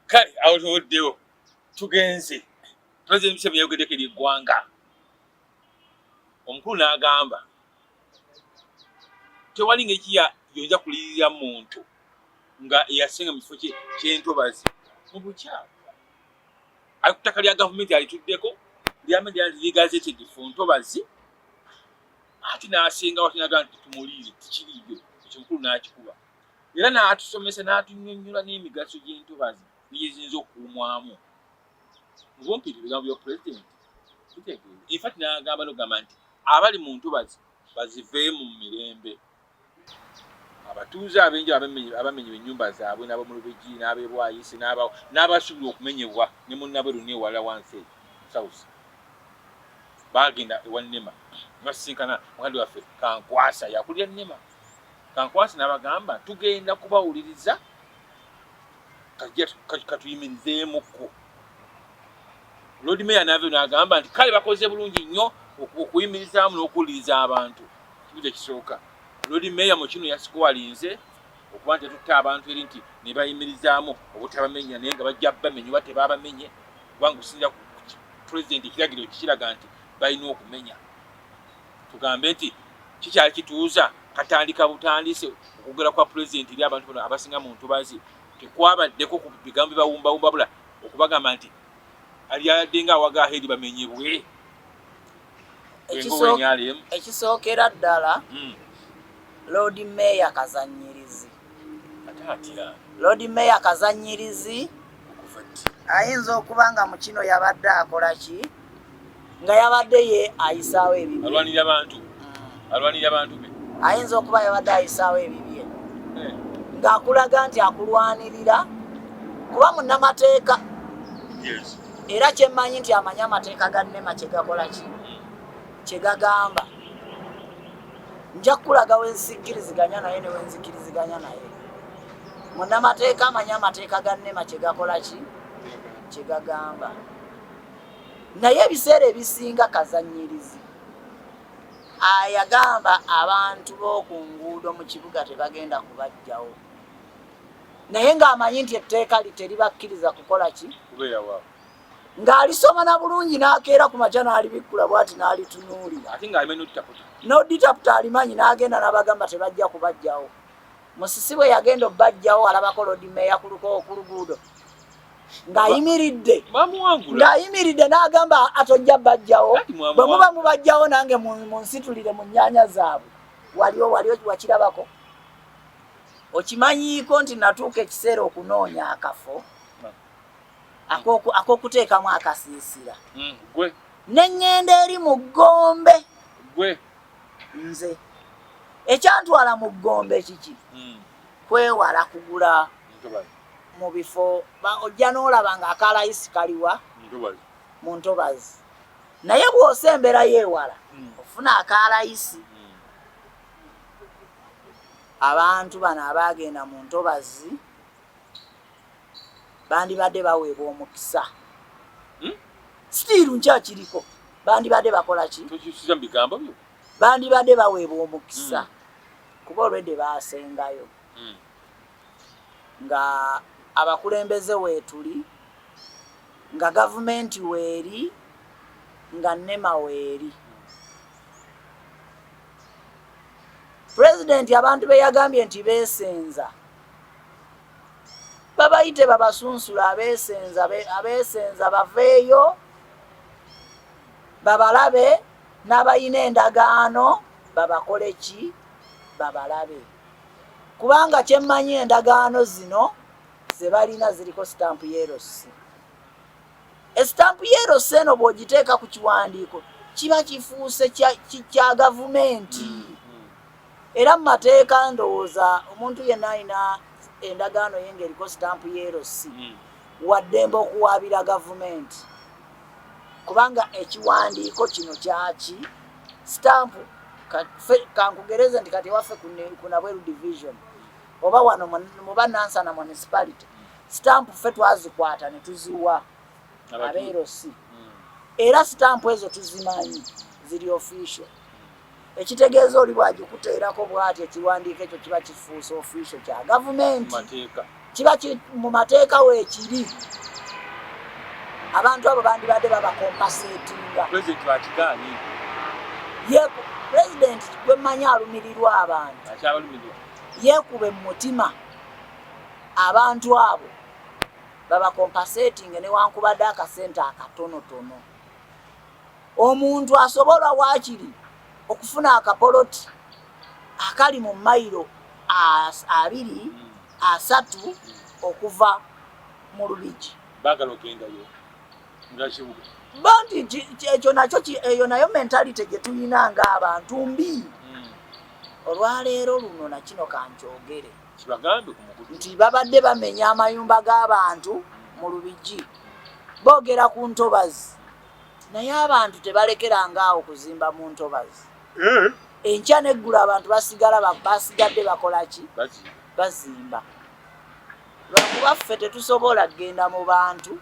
kale awo tewoddewo tugenze president museveni yayogeddeko eri eggwanga omukulu n'agamba tewali ngeri kiya yonja kulirira muntu nga eyasinga mu kifo kyentobazi mu bukyamu ali ku ttaka lya gavumenti alituddeko lyamedialigazetegefu ntobazi ati n'asinga watinaga nti tumuliire tikiriyo ekyo mukulu n'akikuba era n'atusomesa n'atunnyonnyola n'emigaso gy'entobazi byeyinza okuumwamu mubumpi ebigambo bya pulezidenti bitegeeza infat n'agamba nogamba nti abali mu ntobazi baziveemu mu mirembe abatuuze abenja abamenyebwa ennyumba zaabwe n'abamulubegi n'abebwayise n'abasuubira okumenyebwa ne munnabwe luni ewala wansi eyo south baagenda ewa nema nga sisinkana mukandi waffe kankwasa yakulira nema Kankwasi n'abagamba, Tugenda kubawuliriza, katuyimirizeemuko. Loodi Meeya n'avyo n'agamba nti kale bakoze bulungi nnyo okuyimirizaamu n'okuwuliriza abantu. Kimu kye kisooka. Loodi Meeya mu kino yasikuwalinze okuba nti yatutte abantu eri nti ne bayimirizaamu obutabamenya naye nga bajja bamenya oba tebaabamenye kubanga okusinzira ku pulezidenti ekiragiro kikiraga nti balina okumenya Tugambe nti kikyali kituuza katandika butandise okwogera kwa pulezidenti eri abantu bano abasinga mu ntobazi tekwabaddeko ku bigambo bibawumbawumba bula okubagamba nti alyadde nga awaga hedi bamenyebwe ekisookera ddala hmm. loodi meeya kazanyirizi Lord Mayor Kazanyirizi ayinza okuba nga mu kino yabadde akola ki nga yabadde ye ayisaawo ebibye alwanira bantu mm. alwanira bantu be ayinza okuba yabadde ayisaawo ebibye eh. ng'akulaga nti akulwanirira kuba munnamateeka era kyemmanyi nti amanyi amateeka ga nema kyegakola ki mm. kyegagamba nja kukulaga wensikkiriziganya naye newenzikkiriziganya naye munamateeka amanyi amateeka ga nema kyegakola ki kyegagamba naye ebiseera ebisinga kazanyirizi ayagamba abantu b'oku nguudo mu kibuga tebagenda kubajjawo naye ng'amanyi nti etteeka li teribakkiriza kukola ki kubeerawa ng'alisoma na bulungi n'akeera ku makya n'alibikkula bwati n'alitunuulira n'oditaputa alimanyi n'agenda n'abagamba tebajja kubajjawo musisi bwe yagenda obbajjawo alabako lodimeeya kuluka okuluguudo ng'ayimiridde ng'ayimiridde n'agamba atojja bajjawo bwe muba mubajjawo nange munsitulire mu nnyanya zaabwe waliwo waliwo wakirabako okimanyiiko nti natuuka ekiseera okunoonya akafo ak'okuteekamu akasiisira mm, gwe ne ŋŋenda eri mu ggombe gwe nze ekyantwala mu ggombe kiki mm. kwewala kugula mu bifo ojja n'olaba nga akalayisi kaliwa mu ntobazi naye bw'osa embeera y'ewala mm. ofuna akalayisi abantu bano abaagenda mu ntobazi bandibadde baweebwa omukisa hmm? sitiiru nkyakiriko bandibadde bakola ki bandibadde baweebwa omukisa hmm. kuba olwedde baasengayo hmm. nga abakulembeze weetuli nga gavumenti weeri nga nema weeri pulezidenti abantu beyagambye nti beesenza babayite babasunsula abesenza abesenza baveeyo babalabe n'abalina endagaano babakole ki babalabe kubanga kyemmanyi endagaano zino zebalina ziriko sitampu yerosi esitampu yerosi eno bw'ogiteeka ku kiwandiiko kiba kifuuse kya gavumenti mm. Era mu mateeka ndowooza omuntu yenna alina endagaano ye ng'eriko sitampu ya LC hmm. waddembe okuwaabira gavumenti kubanga ekiwandiiko kino kyaki sitampu kankugereze nti kati ewaffe ku nabweru division oba wano muba nansana municipality sitampu ffe twazikwata ne tuziwa abeerosi hmm. era sitampu ezo tuzimanyi ziri official ekitegeeza oli bw'agikuteerako bw'ati ekiwandiiko ekyo kiba kifuuse ofiisyo kya gavumenti kiba mu mateeka weekiri abantu abo bandibadde babakompaseetinga pulezidenti gwe mmanyi alumirirwa abantu yeekube mu mutima abantu abo babakompaseetinge newankubadde akasente akatonotono Omuntu asobola waakiri okufuna akapoloti akali mu mayiro abiri asatu okuva mu Lubigi. Baagala ogendayo nga kibuga. Bo nti ekyo nakyo eyo nayo mentalite gye tulina ng'abantu mbi. Hmm. Olwaleero luno na kino kankyogere nti babadde bamenya amayumba g'abantu mu Lubigi boogera ku ntobazi. Naye abantu tebalekeranga awo kuzimba mu ntobazi eh? enkya neggulu abantu basigala basigadde bakola ki bazimba lwakuba ffe tetusobola kugenda mu bantu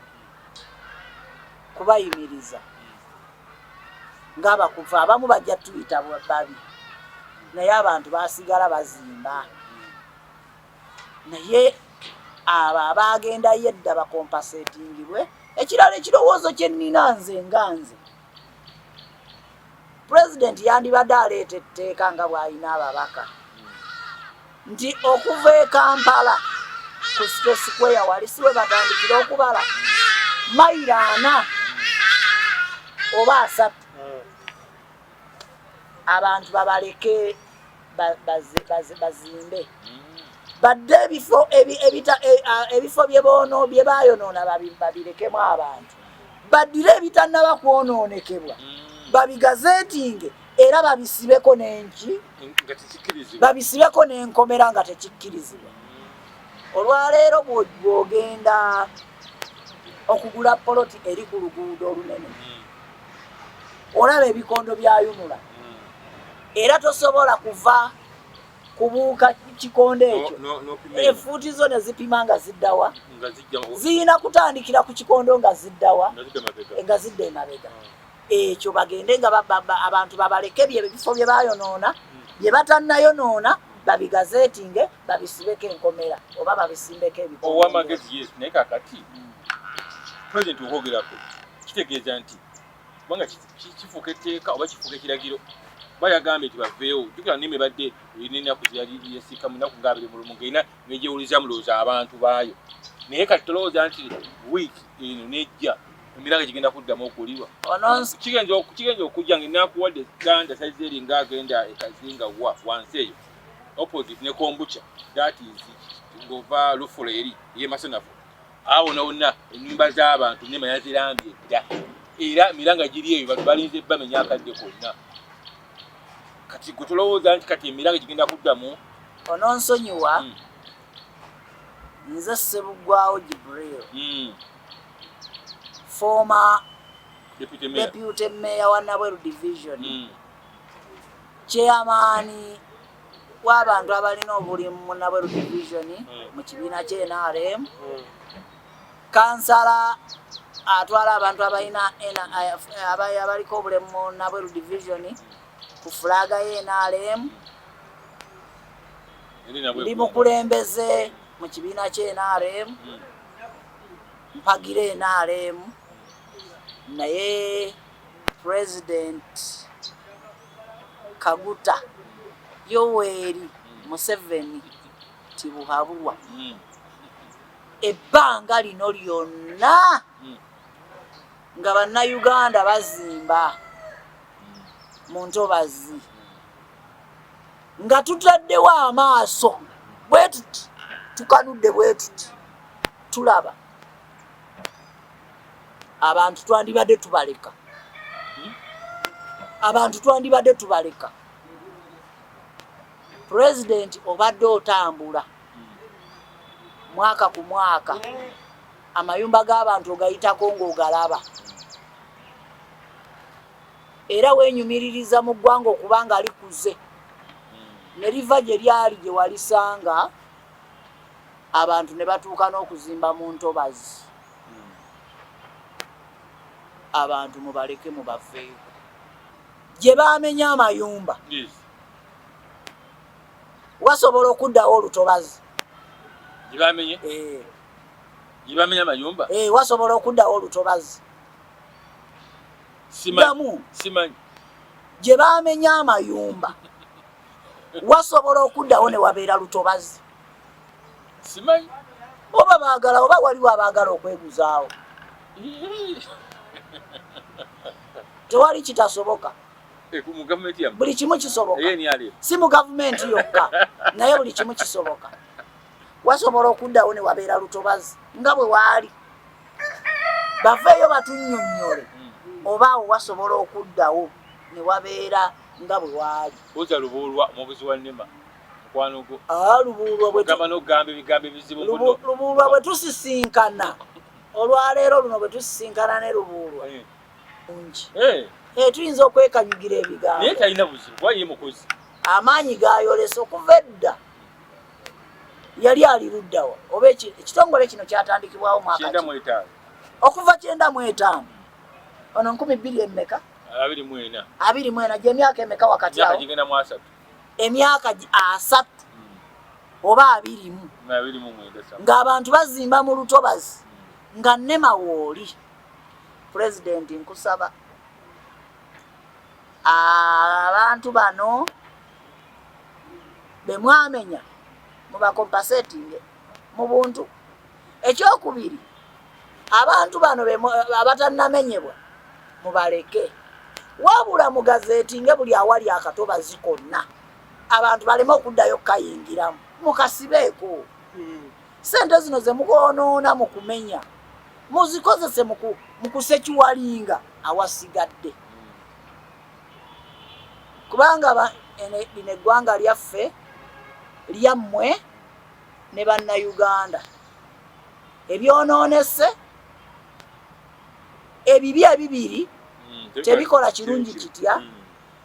kubayimiriza ngaabakuva abamu bajja tuyita babi naye abantu basigala bazimba naye abo abaagendayo edda bakompasetingibwe ekirala ekirowoozo kye nnina nze nga nze pulezidenti yandibadde aleeta etteeka nga bw'alina ababaka nti okuva e kampala ku site sikweya wali si we batandikira okubala mayiro ana oba asatu hmm. abantu babaleke bazimbe badde ebifo e, ebifo bye bayonoona babirekemu abantu baddire ebitannaba kwonoonekebwa mm. babigazeetinge era babisibeko nenki babisibeko n'enkomera nga tekikkirizibwa mm. olwaleero bwogenda okugula poloti eri ku luguudo olunene mm. olaba ebikondo byayunula era tosobola kuva kubuuka kikonde ekyo efuuti zo ne zipima nga ziddawa ziyina kutandikira ku kikondo nga ziddawa nga zidda emabega ah. ekyo bagende nga abantu babaleke bye bifo bye bayonoona hmm. bye batannayonoona babigazeetinge babisibeko enkomera oba babisimbeko ebioamagezi yes naye kakati hmm. president okwogerako kitegeeza nti kubanga kifuuka etteeka oba kifuuka ekiragiro kuba yagambye nti baveewo jukira nime badde erina ennaku zeyali yasiika mu nnaku nga abiri mulumu ngaerina negyewulizamu lowooza abantu baayo naye kati tolowooza nti wiiki eno nejja emiranga gigenda kuddamu okuwulirwa kigenza okujja nga enakuwadde ganda saizi eri nga agenda ekazinga wa wansi eyo opposite ne kombucha that is ngova lufula eri yemasanafu Awo wonna wonna ennyumba z'abantu nema yazirambye dda era emiranga giri eyo bantu balinze bamenya akadde konna kati gwe tolowooza nti kati emiranga gigenda kuddamu ononsonyiwa hmm. nze sebugwawo jibril hmm. former deputy mayor wa nabweru division hmm. chairman w'abantu abalina obulimu mu Nabweru division mu kibiina kya NRM kansala atwala abantu abalina abaliko obulemu mu Nabweru division ku fulaga ya NRM ndi mukulembeze mu kibiina kya NRM mpagira NRM naye president Kaguta, Yoweri Museveni Tibuhaburwa ebbanga lino lyonna nga bannayuganda bazimba mu ntobazi nga tutaddewo amaaso bwetuti tukanudde bwetuti tulaba abantu twandibadde tubaleka abantu twandibadde tubaleka pulezidenti obadde otambula mwaka ku mwaka amayumba g'abantu ogayitako ng'ogalaba era wenyumiririza mu ggwanga okuba nga likuze ne liva gye lyali gye walisanga abantu ne batuuka n'okuzimba mu ntobazi abantu mubaleke mubaveeyo gye bamenya amayumba wasobola okuddawo olutobazi eh. eh, wasobola okuddawo olutobazi damu gye bamenya amayumba wasobola okuddawo ne wabeera lutobazi simanyi oba baagala oba waliwo abaagala okweguzaawo tewali kitasoboka eh, buli kimu kisoboka eh, si mu gavumenti yokka naye buli kimu kisoboka wasobola okuddawo ne wabeera lutobazi nga bwe waali baveeyo batunyonnyole hmm. oba awo wasobola okuddawo ne wabeera nga bwe waali oza lubuulwa omubuzi wa nema mukwano gwo ah, lubuulwagamba nokugamba ebigambo ebizibu lubuulwa bwe tusisinkana olwaleero luno bwe tusisinkana ne lubuulwa eh. ngi eh. eh, tuyinza okwekanyugira ebigambo naye talina buzibu kuba ye mukozi amaanyi gayolesa okuva edda yali ali luddawa oba ekitongole kino kyatandikibwawo mwaka okuva kyenda mu etaano ono nkumi bbiri emmeka abiri mwena gyemyaka emeka wakati awo emyaka asatu oba abirimu ng'abantu bazimba mu lutobazi nga nema wooli pulezidenti nkusaba abantu bano bemwamenya mubakompasetinge mu buntu ekyokubiri abantu bano abatannamenyebwa mubaleke wabula mugazeti nge buli awali akatobazi konna abantu baleme okuddayo kukayingiramu mukasibeeko hmm. sente zino zemukonoona mu kumenya muzikozese mu kusekiwalinga awasigadde kubanga lino eggwanga lyaffe lyammwe ne bannayuganda ebyonoonese ebibi ebibiri hmm, tebikola kirungi kitya hmm.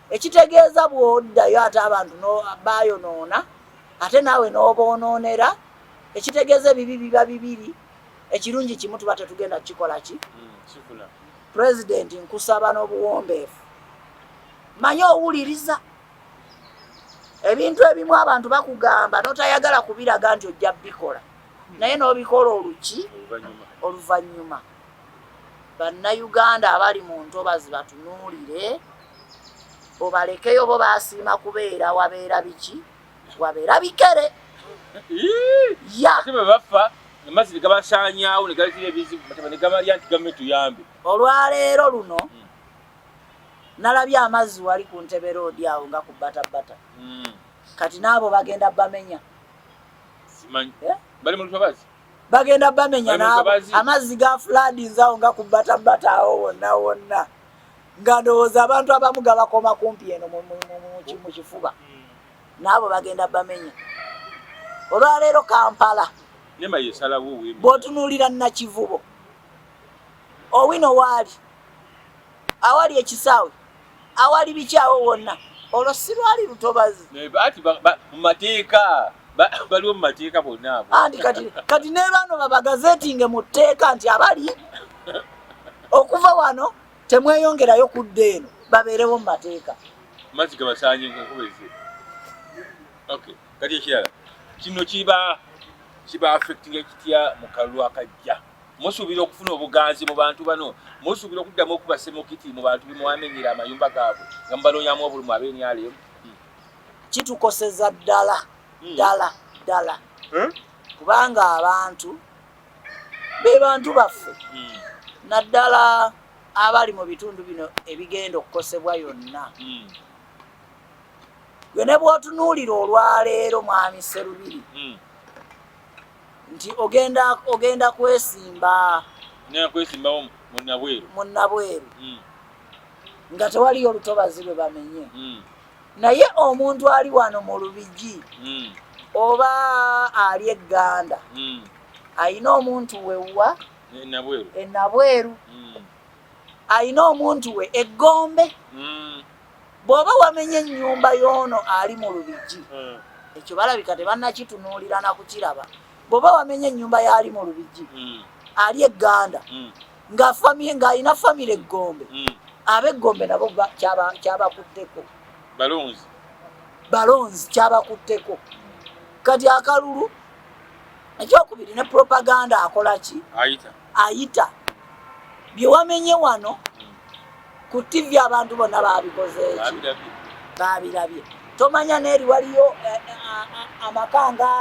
ekitegeeza bwoddayo ate abantu bayonoona ate naawe n'oboonoonera ekitegeeza ebibi biba bibiri ekirungi kimu tuba tetugenda kukikola ki hmm, pulezidenti nkusaba n'obuwombeefu manye owuliriza ebintu ebimu abantu bakugamba notayagala kubiraga nti ojja bikola naye nobikola oluki oluvanyuma bannayuganda abali mu ntobazi batunuulire obalekeyo bo basiima kubeera wabeera biki wabeera bikere yabafa amazzi negabasanyawo negaletera ebizibu negabalya nti gavumenti tuyambe olwaleero luno hmm. nalabye amazzi wali ku ntebe roodi awo nga ku batabbata hmm. kati n'abo bagenda bamenya eh? bagenda bamenya naabo amazzi ga fulaadinzi awo nga ku batabbata awo wonna wonna nga ndowooza abantu abamu gabakoma kumpi eno mu kifuba hmm. naabo bagenda bamenya olwaleero kampala bwotunuulira nakivubo Owino waali awali ekisaawe awali bikyawo wonna olwo sirwali lutobazi mumateeka baliwo mumateeka bonna anti kati kati nebaano babagazetinge mu tteeka nti abali okuva wano temweyongerayo kudda eno babeerewo mu mateeka mazzi gabasaanye nkakubeze okay kati ekirala kino kiba kiba affectinga kitya mu kalulu akajja Musuubira okufuna obuganzi mu bantu bano? Musuubira okuddamu okuba semukiti mu bantu be mwamenyera amayumba gaabwe nga mubanoonyamu obulumu ab'enyaleemu? Hmm. Kitukoseza ddala hmm. ddala ddala hmm? kubanga abantu be bantu baffe naddala abali mu bitundu bino ebigenda okukosebwa yonna gwe ne bw'otunuulira olwaleero mwami Sserubiri nti ogenda ogenda kwesimba nakwesimbawo munabweru munabweru mm. nga tewaliyo olutobazi lwe bamenye mm. naye omuntu ali wano mu lubigi mm. oba ali egganda mm. ayina omuntu wewwa enabweru e mm. ayina omuntu we eggombe mm. bwoba wamenye enyumba yono ali mu lubigi hmm. ekyo balabika tebannakitunuulira na kukiraba bwoba wamenye enyumba yaali mu lubigi hmm. ali eganda hmm. ng'alina famire eggombe abeggombe nabo kyabakutteko balonzi balonzi kyabakutteko kati akalulu ekyokubiri ne propaganda akola ki ayita bye wamenye wano ku TV abantu bonna baabikoze eki baabirabye tomanya neeri waliyo eh, eh, ah, ah, amaka nga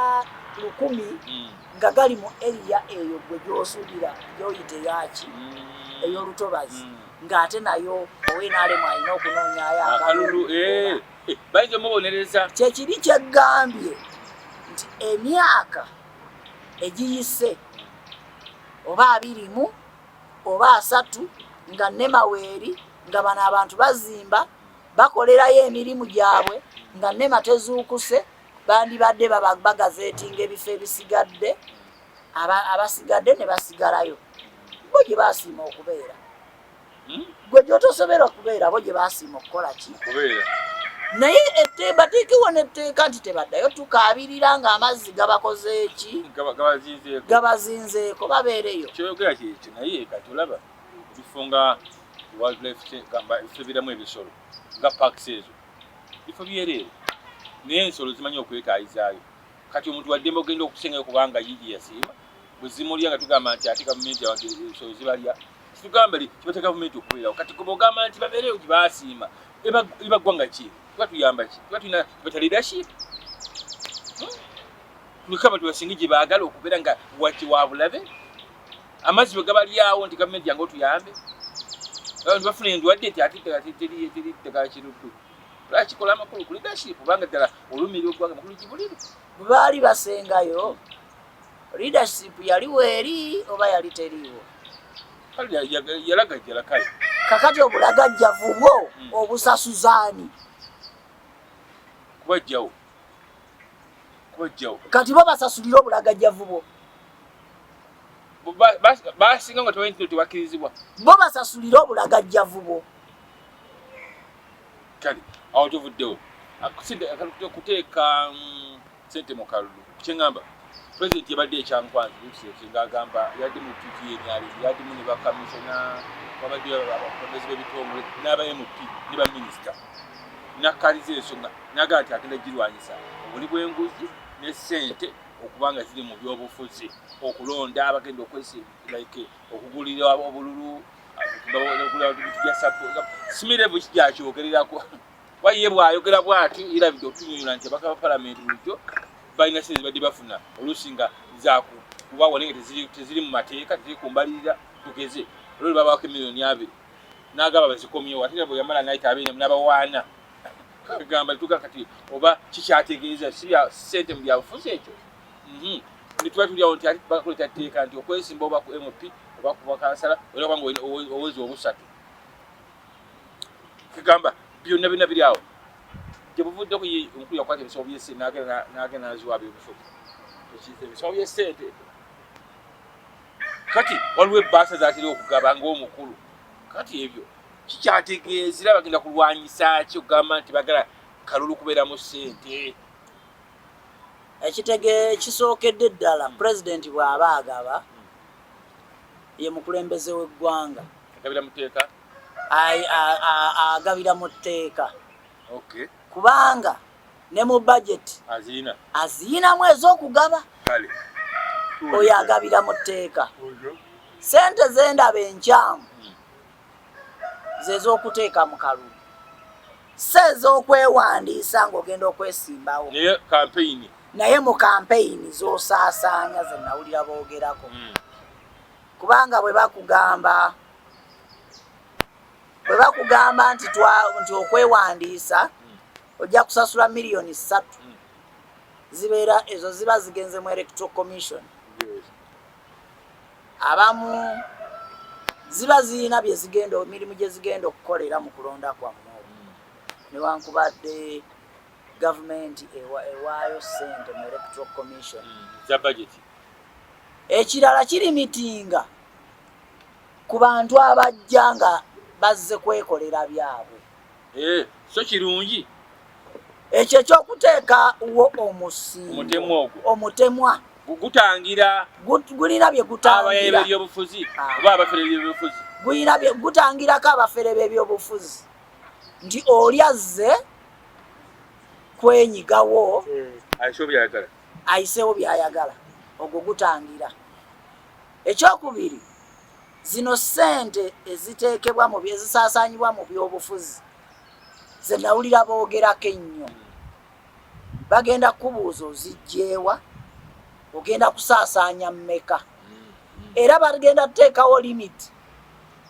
lukumi hmm. nga gali mu eriya eyo gwe gyosuubira gyoyite yaki hmm. ey'olutobazi hmm. ng'ate nayo owenaalemu alina okunoonyayo akalulu eh, bayinza omubonereza kyekiri kyeggambye nti emyaka egiyise oba abiri mu oba asatu nga nemaweeri nga bano abantu bazimba bakolerayo emirimu gyabwe nga nema tezuukuse bandibadde babagazeetinga ebifo ebisigadde abasigadde ne basigalayo bo gye basiima okubeera hmm? gwe gyotosoberwa kubeera bo gye basiima okukola ki kubeera naye bateekewo netteeka nti tebaddayo tukaabirira nga amazzi gabakozeeki gabazinzeeko babeereyo kyoyogera kyekyo naye kati olaba ebifo nga wildlifefebiramu ebisolo nga parks ezo bifo byereere naye ensolo zimanyi okwetaayizaayo kati omuntu waddembe ogenda okusengayo kubanga yiiya siima bwezimulya nga tugamba nti ate gavumenti abantu ebisolo zibalya Kitugambe li kibata government okubeerawo kati kuba ogamba nti babeereyo nti baasiima iba ggwanga ki tuba tuyamba ki tuba tulina kibata leadership hmm? kuliko abantu basinga gye baagala okubeera nga waki wa bulabe amazzi bwe gabalyawo nti gavumenti yange otuyambe abantu bafuna endwadde nti ate teri ddagala kiruddu lwakikola amakulu ku leadership kubanga ddala olumiira ogwanga makulu gibuliru baali basengayo leadership yali weeri oba yali teriiwo yalagajjala kale kakati obulagajjavu bwo hmm. obusasuzaani kubajjawo kubajjawo kati bo basasulire obulagajjavu bwo basinga nga tebainti tebakirizibwa bo basasulire obulagajjavu bwo kale awo tuvuddewo kuteeka mm, sente mu kalulu kyengamba president yabadde ekyankwanzi lukiseeki ng'agamba yadde mu piki yenyali yadimu ne bakamisona wabadde abakulembezi b'ebitongole n'aba mp ne baminisita nakkaliza ensonga naga nti agenda girwanyisa obuli bw'enguzi ne sente okubanga ziri mu byobufuzi okulonda abagenda okwesi like okugulira obululu okugula bintu bya sapo simirevu kikyakyogere Kuba ye bw'ayogera bw'ati yeerabidde okutunyonyola nti abaka ba palamenti bulijjo balina sente zibadde bafuna oluusi nga zaku kuba wali nga teziri mu mateeka teziri ku mbalirira tugeze olwo lwe babaako emiliyoni abiri n'agamba bazikomyewo ate era bwe yamala nayita abiri n'abawaana agamba tuga kati oba kikyategeeza si bya sente mu byabufuzi ekyo mhm. netuba tulyawo nti ati bakakuleta tteeka nti okwesimba oba ku mp oba ku bakansala olina kubanga owezi obusatu kigamba byonna byonna biri awo gyebuvuddeko ye omukulu yakwata ebisawo byesente nagenda naziwa abyobufuzi ebisawo byesente kati waliwo ebbaasa zatera okugaba ngaomukulu kati ebyo kikyategeeza era bagenda kulwanyisa ki okugamba nti bagala kalulu kubeeramu sente ekitege kisookedde ddala pulezidenti bw'aba agaba ye mukulembeze w'eggwanga agabira mu tteeka agabira mu tteeka kubanga ne mu budget aziyinamu ez'okugaba oyo agabira mu tteeka sente zendaba enkyamu hmm. zez'okuteeka mu kalulu si ez'okwewandiisa ng'ogenda okwesimbawo naye mu kampeyini z'osaasaanya ze nawulira boogerako hmm. kubanga bwe bakugamba bwe bakugamba nti twa nti okwewandiisa ojja kusasula miliyoni ssatu zibeera ezo ziba zigenze mu electro commission abamu ziba zirina byezigenda emirimu gye zigenda okukolera mu kulonda kwammwe newankubadde gavumenti ewaayo sente mu electoral commission za budget ekirala kiri mitinga ku bantu abajja nga bazze kwekolera byabwe eh, so kirungi ekyo ekyokuteeka wo omusingo omutemwa gutangira gulina bye gutangira ebyobufuzi ah. oba abafere ebyobufuzi gulina bye gutangirako abafere b'ebyobufuzi nti oli azze kwenyigawo ayiseewo byayagala ogwo gutangira ekyokubiri zino sente eziteekebwa mu ezisaasaanyibwa mu byobufuzi ze nawulira boogerako ennyo bagenda kukubuuza ozijjeewa ogenda kusaasaanya mmeka era bagenda kuteekawo limiti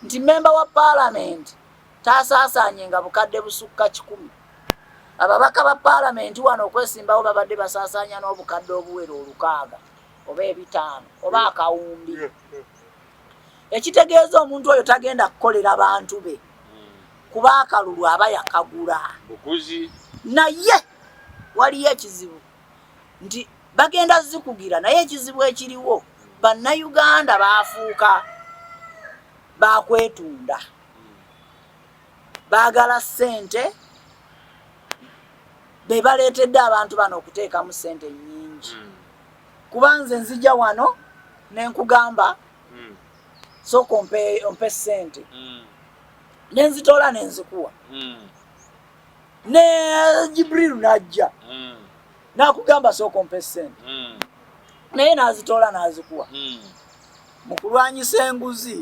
nti memba wa paalamenti taasaasaanye nga bukadde busukka kikumi. Ababaka ba paalamenti wano okwesimbawo babadde basaasaanya n'obukadde obuwera olukaaga oba ebitaano oba akawumbi, ekitegeeza omuntu oyo tagenda kukolera bantu be kuba akalulu aba yakagula. Naye waliyo ekizibu nti bagenda zikugira, naye ekizibu ekiriwo bannayuganda baafuuka baakwetunda. baagala ssente be baleetedde abantu bano okuteekamu ssente nnyingi hmm. kuba nze nzija wano ne nkugamba hmm. sooka ompe ssente hmm. ne nzitoola ne nzikuwa ne jibrilu n'ajja n'akugamba sooka ompe ssente naye n'azitoola n'azikuwa mu kulwanyisa enguzi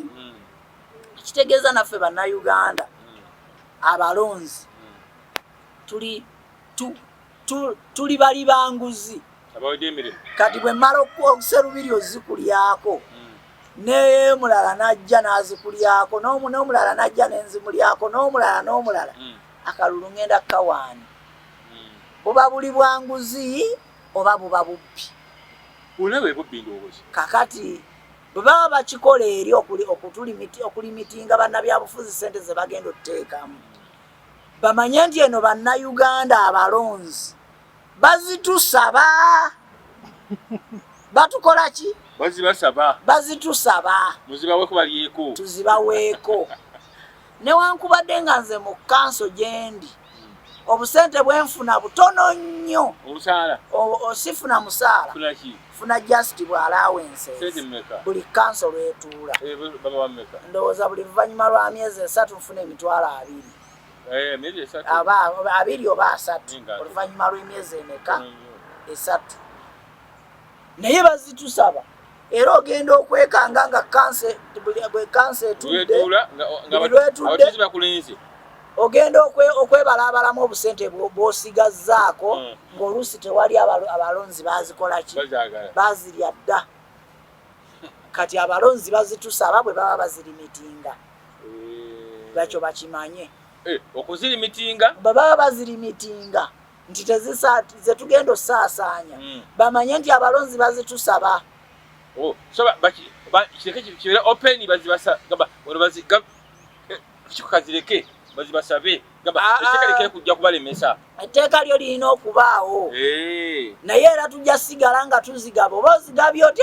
ekitegeeza naffe bannayuganda abalonzi tuli tu, tu, tuli bali banguzi kati bwe mmala okuserubiri ozikulyako hmm. nemulala najja nazikulyako nomulala najja nenzimulyako nomulala nomulala hmm. akalulu ngenda kukawaani hmm. buba buli bwanguzi oba buba bubbi kakati bwe baba bakikola eri okulimitinga bannabyabufuzi sente ze bagenda okuteekamu bamanye nti eno bannayuganda abalonzi bazitusaba batukola ki bazitusaba tuzibaweeko newankubadde nga nze mu kanso gyendi obusente bwenfuna butono nnyo sifuna musaala funa just bwalawense buli kanso lwetuula eh, ndowooza buli luvannyuma lwa myezi esatu nfuna emitwalo abiri eh, abiri oba asatu oluvannyuma lw'emyezi emeka esatu naye bazitusaba era ogenda okwekanga nga kanse bwe kanse etudde ogenda okwebalaabalamu obusente bwosigazzaako hmm. ng'oluusi tewali abalonzi bazikola ki bazirya dda kati abalonzi bazitusaba bwe baba bazirimitinga eh. bakyo bakimanye eh, okuzirimitinga bwe baba bazirimitinga nti zetugenda osaasaanya hmm. bamanye nti abalonzi bazitusaba oh, kibeera open kikazireke eh, bazibasabe ah, ah. kujja kubalemesa etteeka lyo lirina okubaawo eh. naye era tujja sigala nga tuzigaba oba ozigabye otya